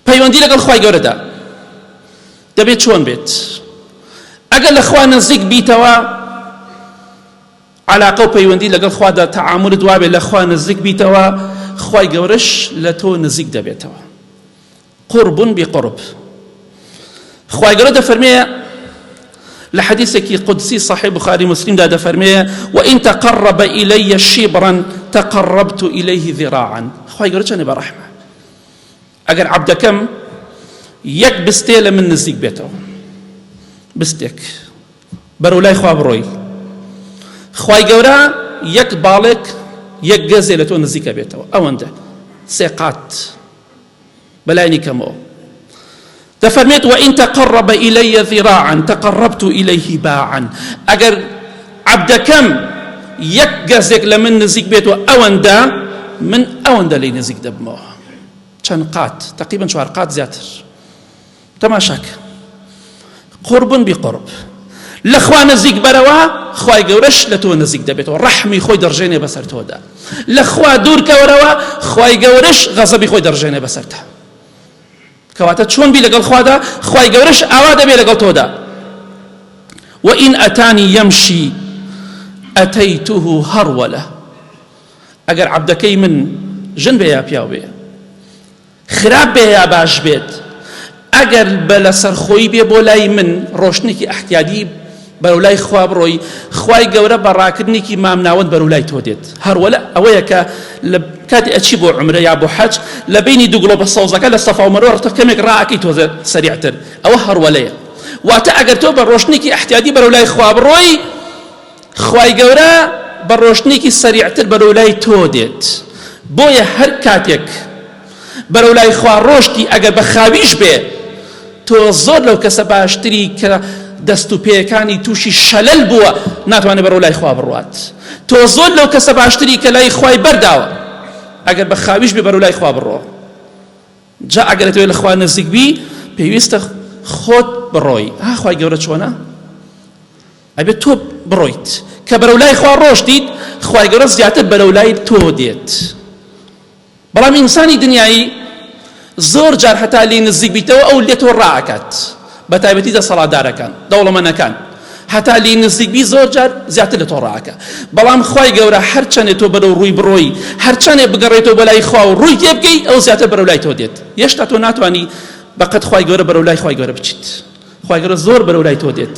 پەیوەندی لەگەڵ خوای گەورەدا دەبێت چۆن بێت ئەگەر لە خوا نزیک بیتەوە علاقە و پەیوەندی لەگەڵ خوادا تەعامل دوابێت لە خوا نزیک بیتەوە خوای گەورەش لە تۆ نزیک دەبێتەوە قرب بقرب خوای گەورە دەفەرمێ لە حدیثێکی قدسی صحیح بخاری مسلمدا دەفەرمێ وإن تقرب إلي شبرا تقربت إليه ذراعا خوای گەورە چەنێ بەڕەحمە ئەگەر عەبدەکەم یەک بستێ لە من نزیک بێتەوە بستێک بەرەو لای خوا بڕۆی خوای گەورە یەک باڵێک یەک گەزێ لە تۆ نزیکە بێتەوە ئەوەندە سێقات بەلای نیکەمەوە دەفەرمێت، وان تقرب الی ذراعا تقربت الیه باعا، ئەگەر عەبدەکەم یەک گەزێک لە من نزیک بێتەوە ئەوەندە، من ئەوەندە لێی نزیک دەبمەوە. چەند قات، تقریبا چوار قات زیاتر. تەماشا کە قرب بقرب لە خوا نزیک بەرەوە خوای گەورەش لە تۆ نزیک دەبێتەوە ڕەحمی خۆی دەڕژێنێ بەسەر تۆدا لە خوا دوورکەوەرەوە خوای گەورەش غەزەبی خۆی دەڕژێنێ بەسەرتە کەواتە چۆن بی لەگەڵ خوادا خوای گەورەش ئاوا دەبێ لەگەڵ تۆدا وئین ئەتانی یەمشی ئەتەیتوه هەڕوەلە ئەگەر عەبدەکەی من ژن بێ یا پیاو بێ خراپ بێ یا باش بێت ئەگەر بە لەسەرخۆی بێ بۆ لای من ڕۆشتنێکی ئەحتیادی بەرەو لای خوا بڕۆی خوای گەورە بە ڕاکردنێکی مامناوەند بەرەو لای تۆ دێت هەروەلا ئەوەیە کە لە کاتی ئەچی بۆ عمرە یا بۆ حەج لە بینی دوو گڵۆپە سەوزەکە لە سەفا و مەروە ڕتە کەمێک ڕاکەی تۆزە سەریعتر ئەوە هەروەلەیە واتە ئەگەر تۆ بە ڕۆشتنێکی ئەحتیادی بەرەو لای خوا بڕۆی خوای گەورە بە ڕۆشتنێکی سەریعتر بەرەو لای تۆ دێت بۆیە هەر کاتێک بەرەو لای خوا ڕۆشتی ئەگەر بە خاویش بێ تۆ زۆر لەو کەسە باشتری کە دەست و پێیەکانی تووشی شەلەل بووە ناتوانێت بەرەو لای خوا بڕوات تۆ زۆر لەو کەسە باشتری کە لای خوای بەرداوە ئەگەر بە خاویش بێ بەرەو لای خوا بڕۆ جا ئەگەر تۆ لە خوا نزیک بی پێویستە خۆت بڕۆی ئاخوای گەورە چۆنە ئەبێت تۆ بڕۆیت کە بەرەو لای خوا ڕۆشتیت خوای گەورە زیاتر بەرەو لای تۆ دێت بەڵام ئینسانی دنیایی زۆر جار هەتا لێی نزیک بیتەوە ئەو لێ تۆ ڕائەکات بە تایبەتی دەسەڵاتدارەکان دەوڵەمەنەکان هەتا لێی نزیک بی زۆر جار زیاتر لە تۆ ڕاکە بەڵام خی گەورە هەرچەندێ تۆ بەرەو ڕووی بڕۆی هەرچەندێ بگەڕێتەوە بەلای خوا و ڕووی تێ بکەی ئەو زیاتر بەرەو لای تۆ دێت یشتا تۆ ناتوانانی بەقەت خی گەورە بەرەو لای خی گەورە بچیت خی گەورە زۆر بەرەو لای تۆ دێت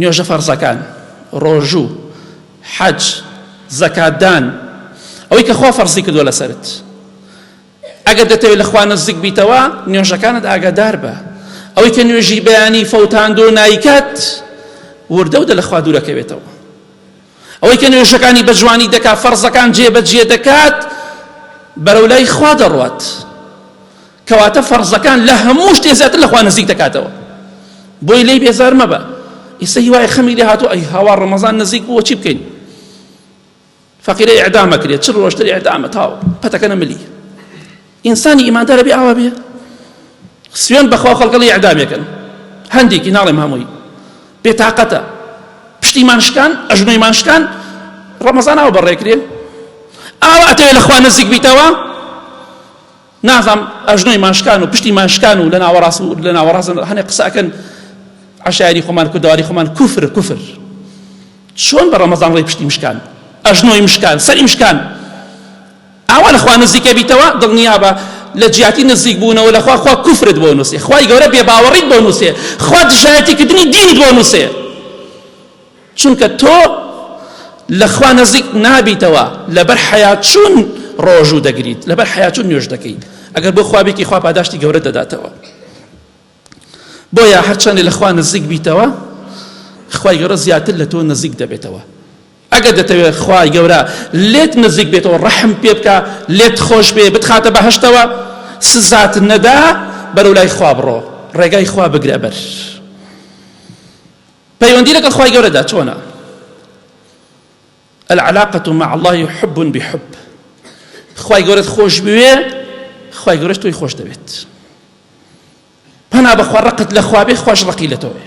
نوێژە فەرزەکان، ڕۆژوو، حەج، زەکات دان، ئەوەی کە خوا فەرزی کردووە لەسەرت، ئەگەر دەتەوێت لە خوا نزیک بیتەوە نوێژەکانت ئاگادار بە، ئەوەی کە نوێژی بەیانی فەوتاندو نایکات وردە ودە لە خوا دوورەکەوێتەوە، ئەوەی کە نوێژەکانی بە جوانی دەکات فەرزەکان جێ بە جێ دەکات بەرەو لای خوا دەڕوات. کەواتە فەرزەکان لە هەموو شتێ زیاتر لە خوا نزیک دەکاتەوە بۆی لێی بێزار مەبە ئیسە هیوای خەمی لێ هاتوو ئەی هاوا ڕەمەزان نزیک بووە چی بکەین فەقیرە ئعدامە کرێت چ ڕۆشتر ئعدامە تاو پەتەکەنە ملی ئینسانی ئیماندارە بێ ئاوا بێ سوێن بەخوا خەڵکەڵی ئەعدامێکن هەندێکی ناڵێم هەمووی بێتاقەتە پشتیمان شکان ئەژنۆیمان شکان ڕەمەزان ئاو بەڕێکرێ ئاوا ئەتەوێ لەخوا نزیک بیتەوە نازم ئەژنۆی مان شکان و پشتی مان شکان و لە ناوەڕاست و لە ناوەڕاست هەنێ قسە ئەکەن عشایری خۆمان کوردەواری خۆمان کوفر کوفر چۆن بە ڕەمەزان ڕێ پشتی مشکان ئەژنۆی مشکان سەری مشکان ئاوا لەخوا نزیکە بیتەوە دڵنیا بە لە جیاتی نزیک بوونەوە لەخوا خوا کوفرت بۆ نووسێ خوای گەورە بێ باوەڕیت بۆ نووسێ خوا دژایەتی کردنی دینت بۆ نووسێ چونکە تۆ لە خوا نزیک نابیتەوە لەبەر حەیاچوون ڕۆژوو دەگریت لەبەر حەیاچوون نوێژ دەکەیت ئەگەر بۆ خوابێکی خوا پاداشتی گەورە دەداتەوە بۆیە هەرچەندی لە خوا نزیک بیتەوە خوای گەورە زیاتر لە تۆ نزیک دەبێتەوە ئەگەر دەتەوێت خوای گەورە لێت نزیک بێتەوە ڕەحم پێ بکە لێت خۆش بێ بتخاتە بەهشتەوە سزات نەدا بەرەو لای خوا بڕۆ ڕێگای خوا بگرە بەر پەیوەندی لەگەڵ خوای گەورەدا چۆنە؟ العلاقە مع الله حب بحب خوای گەورەت خۆش بوێ خوای گەورەش تۆی خۆش دەوێت پەنا بەخوا ڕقت لە خوابێ خوش ڕقی لە تۆێ